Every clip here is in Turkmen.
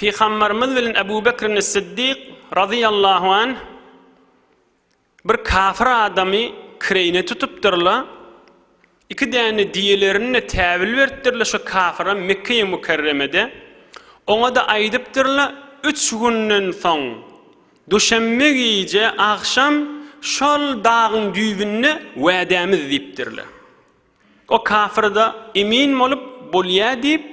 Pygamberimiz bilen Ebu Bekrin-i Siddik, razyýallahu anh, bir kafir adamy kireýine tutupdyrlar, iki däne diýelerini-de täwil beripdirler şu kafira Mekge-i Mükerremede, oňa-da aýdypdyrlar, üç günden soň, duşenbe gije agşam şol dagyň düýbünde wädämiz diýipdirler. O kafir-de emin bolup, bolýa diýip,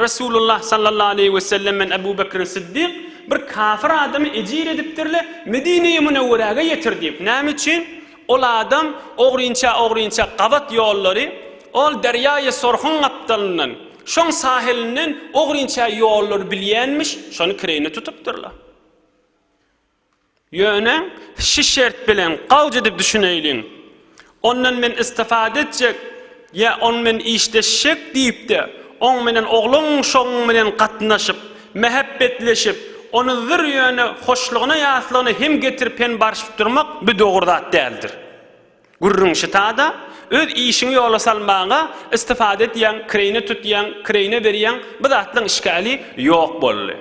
Resulullah sallallahu aleýhi wesellem bilen Abu Bekr Siddik bir kafir adamy ejir edipdirle Medineye Münewwerege ýetir diýip, näme üçin? Ol adam ogrynça ogrynça gabat ýollary, ol derýaýy Sorhuň gapdalyndan, şoň sahilinden ogrynça ýollary bilýänmiş, şony kireýine tutupdyrla. Ýöne şi şert bilen, gawjy edip düşüneýliň, ondan men istifade etjek ýa on men işleşjek diýip-de, oň menen ogluň-şoguň bilen gatnaşyp, mähep-betleşip, ony zir ýöne hoşlugyna-ýaslygyna hem getirip hem barşyp durmak bi dogry zat däldir. Gürrüň şita-da, öz işiňi ýola salmaga istifade etýäň, kireýine tutýaň, kireýine berýäň, bi zatlaň işgäli ýok boldy.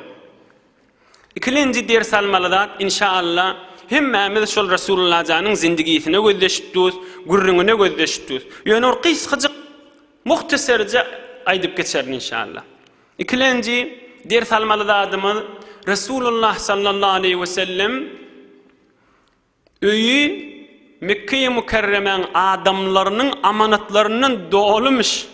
Ikilinji ders almaly zat inşa Alla hemmämiz şol Resulullajanyň zindigisine gözleşip durus, gürrüňine gözleşip durus. Ýöne bir gysgajyk muhtaserje aýdyp geçerin inşa Alla. Ikilenji ders almaly zadymyz Resulullah sallallahu aleýhi we sellem öýi Mekkeýi Mukerremäň adamlarynyň amanatlaryndan dolymyş.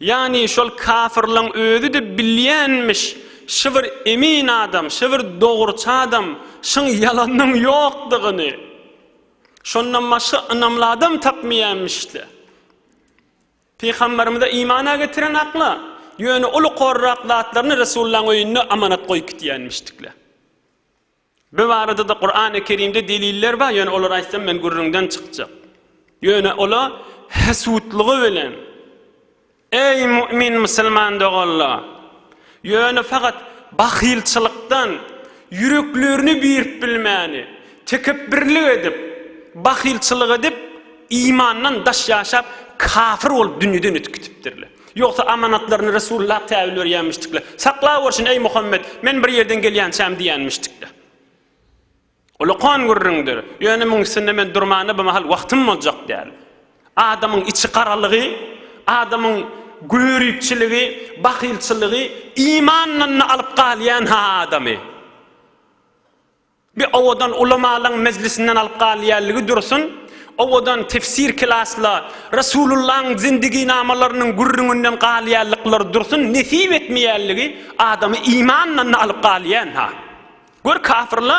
Ýagny şol kafyrlaň özi-de bilýänmiş, şy bir emin adam, şy bir dogruçy adam, şyň ýalanyň ýokdugyny. Şondan başga ynamly adam tapmaýanmiş-le. Pygamberimize imana getiren akla, ýöne uly korrak zatlaryny Resulullaň öýünde amanat goýup gitýänmişdikle. Bu barada-da Kurany Kerimde deliller bar, ýöne olary aýtsam men gürrüňden çykjak. Ýöne olar hesutlygy bilen, Eý mu'min musulman doganlar! Ýöne fakat bahylçylykdan ýüreklerini birip bilmäni, tekepbirlik edip, bahylçylyk edip, imandan daş ýaşap, kafir bolup dünýeden ötüp gitipdirler. Ýogsa amanatlaryny Resulullah täwül berýänmişdikle. Saklawurşun, eý Muhammet, men bir ýerden gelýänçäm diýýänmişdikle. Ol okan gürrüňdir. Ýöne muň üstünde men durmana bu mahal wagtym boljak däl. Adamyň içi garalygy, adamyň göripçiligi, bahylçylygy imandan-da alyp galýan-ha adamy. Bir owadan ulamalaň mejlisinden alyp galýanlygy dursun, owadan tefsir klasla Resulullaň zindiginamalarynyň gürrüňinden galýanlyklary dursun nesip etmeýänligi adamy imandan-da alyp galýan-ha. Gör kafyrla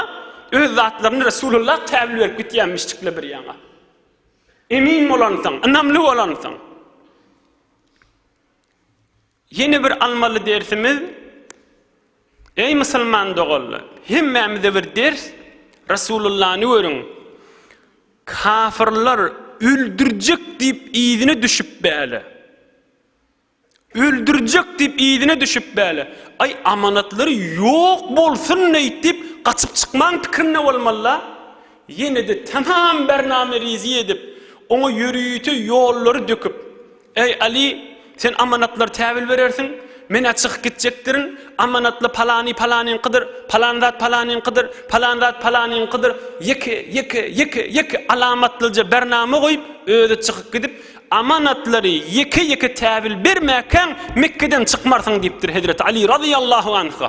öz zatlaryny Resulullah käbul berip gitýänmişdikle bir ýaňa. Emin bolansyň, ynamly bolansyň. Ýene bir almaly dersimiz, Eý musulman doganlar, hemmämize bir ders, Resulullany görüň, kafyrlar öldürjek diýip yzyna düşüp bäle. Öldürjek diýip yzyna düşüp bäle. Aý amanatlary ýok bolsun neýtip gaçyp çykmaň pikirinde bolmalyla. Ýene-de tamam bername rizi edip, oňa ýörite ýollary döküp, Eý, Aly, sen amanatlary tä bil berersiň, men-ä çykyp gitjekdirin, amanatly palany palanyňkydyr, palan zat palanyňkydyr, palan zat palanyňkydyr, ýeke, ýeke, ýeke, ýeke alamatlyja bernama goýup, özi çykyp gidip, Amanatlary ýeke-ýeke tä bil bermäkäň, Mekgeden çykmarsyň diýipdir Hezreti Aly razyýallahu anha.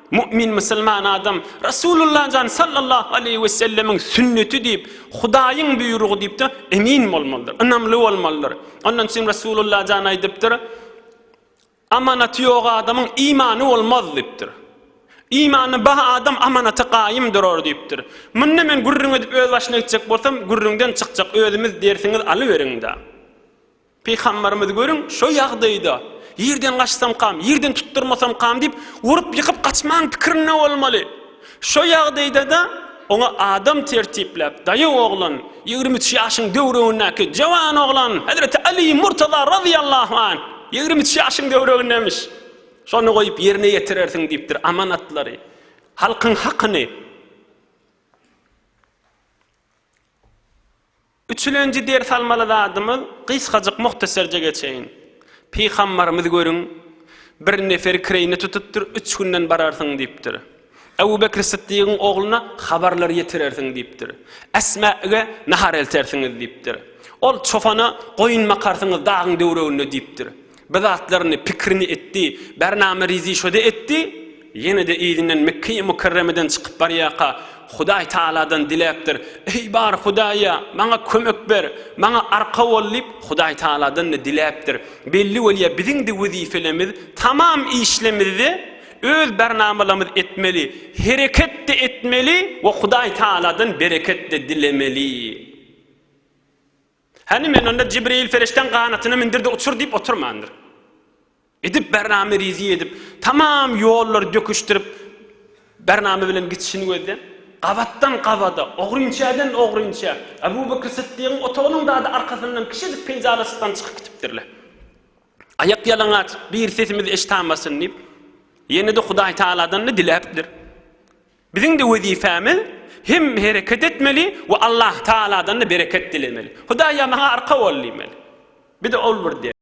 Mu'min musulman adam Rasulullah jan sallallahu aleýhi we sellemiň sünneti diýip, Hudaýyň buýrugy diýip-de emin bolmalydyr, ynamly bolmalydyr. Ondan üçin Rasulullah jan aýdypdyr, Amanaty ýok adamyň imany bolmaz diýipdir. Imany ba adam amanata gaýym durar diýipdir. Munda men gürrüň edip öz başyna gitjek bolsam, gürrüňden çykjak özümiz dersiňiz alyberiň-dä. Pygamberimizi görüň, şo ýagdaýda, Ýerden gaçsam kam, ýerden tutdurmasam kam diýip, urup-ýykyp gaçmagyň pikirinde bolmaly. Şo ýagdaýda-da, oňa adam tertipläp, Daýaw oglan, ýigrimi üç ýaşyň döwregindäki jowan oglan, hezreti Aly Murtaza razyýallahu anh, ýigrimi üç ýaşyň döwregindemiş, şony goýup ýerine ýetirersiň diýipdir, amanatlary, halkyň hakyny. Üçülenji ders almaly zadymyz gysgajyk muhtaserje geçeýin. Pygambarymyz görüň, bir nefer kireýine tutupdyr, üç günden bararsyň diýipdir. Ebu Bekr Sytdygyň ogluna habarlar ýetirersiň diýipdir. Esma ge nahar eltersiňiz diýipdir. Ol çopana goýun bakarsyňyz dagyň döwreginde diýipdir. Bir zatlaryny, pikirini etdi. Bernama Rizi şo-da etdi. Ýene-de yzyndan Mekge-i Mükerremeden çykyp barýarka, Hudaý Tagaladan diläpdir. Eý, bar Hudaý-a, maňa kömek ber, maňa arka bol diýip, Hudaý Tagaladan-da diläpdir. Belli bolýar, biziň-de wezipelerimiz tamam işlemizde öz bernamalarymyzy etmeli, hereket-de etmeli we Hudaý Tagaladan bereket-de dilemeli. Hany men onda Jibril perişdäň ganatyna mindir-de uçur diýip oturmandyr. Edip Bernamy rizi edip, tamam ýollary döküşdirip, Bernamy bilen gitişini gözlän. Gabatdan-gabada, ogrynçäden-ogrynça, Abu Bekr Sytdygyň otagynyň dady arkasyndan kişijik penjalasykdan çykyp gitipdirler. Aýak ýalaňaç, bir sesimizi eşitamasyn diýip, ýene-de Hudaýtagaladan-da diläpdir. Biziň-de wezipemiz hem hereket etmeli we Allahtagaladan-da bereket dilemeli. Hudaý-a maňa arka bol diýmeli. Biz-de ol bir der.